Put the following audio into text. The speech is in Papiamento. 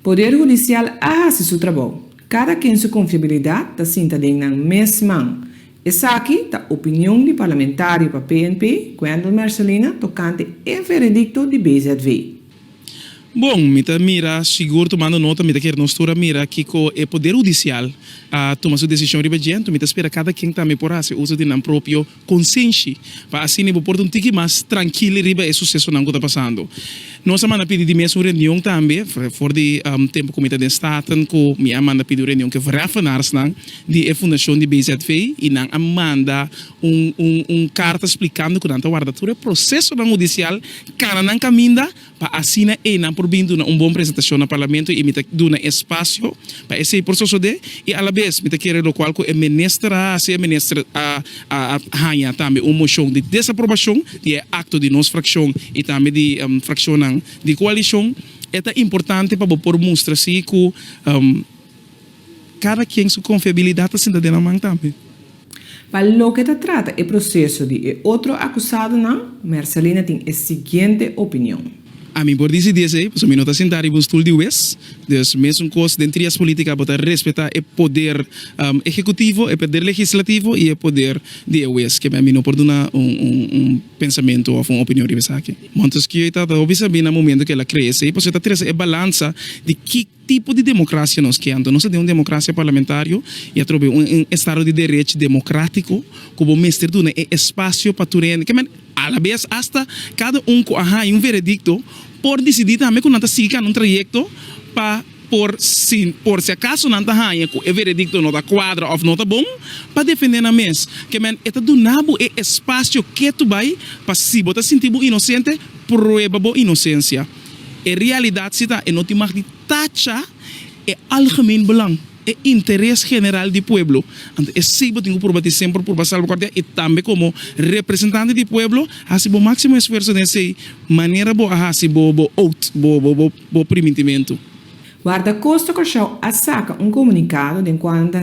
Poder hudisial a hasi su trabou. Kada ken su konfiabilidat ta sinta den nan mes man. Esaki ta opinion di parlamentario pa PNP, Wendel Mercelina, tokante e veredikto di BZW. Bon, mi ta mira, sigur tumando nota mi ta kere nos tur a mira kiko e poder hudisial a tuma su desishon riba dje, anto mi ta spera kada ken tambe por hasi uso di nan propio. Konsenshi, pa asina bo por ta un tiki mas trankil riba e susesonan ku ta pasando. Nos a manda pidi di mes un reunion tambe, for di tempu ku mi ta den Staten, ku mi a manda pidi un reunion ku e verheffenaarnan di e fundashon di BZV, i nan a manda un karta splikando ku nan ta warda tur e prosesonan hudisial kana nan kaminda, pa asina eynan por bin duna un bon presentashon na Parlamento i mi ta duna espasio pa esei por sosodé i alabes mi ta kere lokual ku e minister a hasi, e minister a haña tambe un moshon di desaprobashon di e akto di nos frakshon i tambe di frakshonnan di koalishon. E ta importante pa bo por mustra si ku kada kien su konfiabilidat ta sinta den nan man tambe. Pa loke ta trata e proseso di e otro akusadonan, Mersalina tin e siguiente opinion. Ami por disi di esei, pasobra mi no ta sintá riba un stul di wes. Dus, mesun kos den trias polítika bo ta respetá e poder ehekutivo, e poder legislativo i e poder di e wes. Keme ami no por duna un pensamentu òf un opinion riba esaki. Montesquieu ta hopi sabí na momentu ku el a kree esei, pasobra el ta trese e balansa di ki. tipo di democracia nos ke? Anto nos ta den un democracia parlamentario y atrobe un estado di derech democratico cu bo mester duna e espacio pa tur hende ke a la vez hasta cada un cu a haya un veredicto por dicidi tambe cu nan ta sigui cana un trayecto pa por si por si acaso nan ta haya cu e veredicto no ta cuadra of no ta bon pa defende nan mes ke e ta duna bo e espacio ketu bay pa si bo ta sinti bo inocente prueba bo inocencia. E realidat si ta e no tin mag di tacha e algemeen belang, e interes general di pueblo. Anto esei bo tin ku purba tin semper purba salvaguardia i tambe komo representante di pueblo hasi bo máksimo esfuerso den esei manera bo a hasi bo bo oath, bo bo bo bo primintimentu. Guardakosta Kòrsou a saka un komunikado den kual nan ta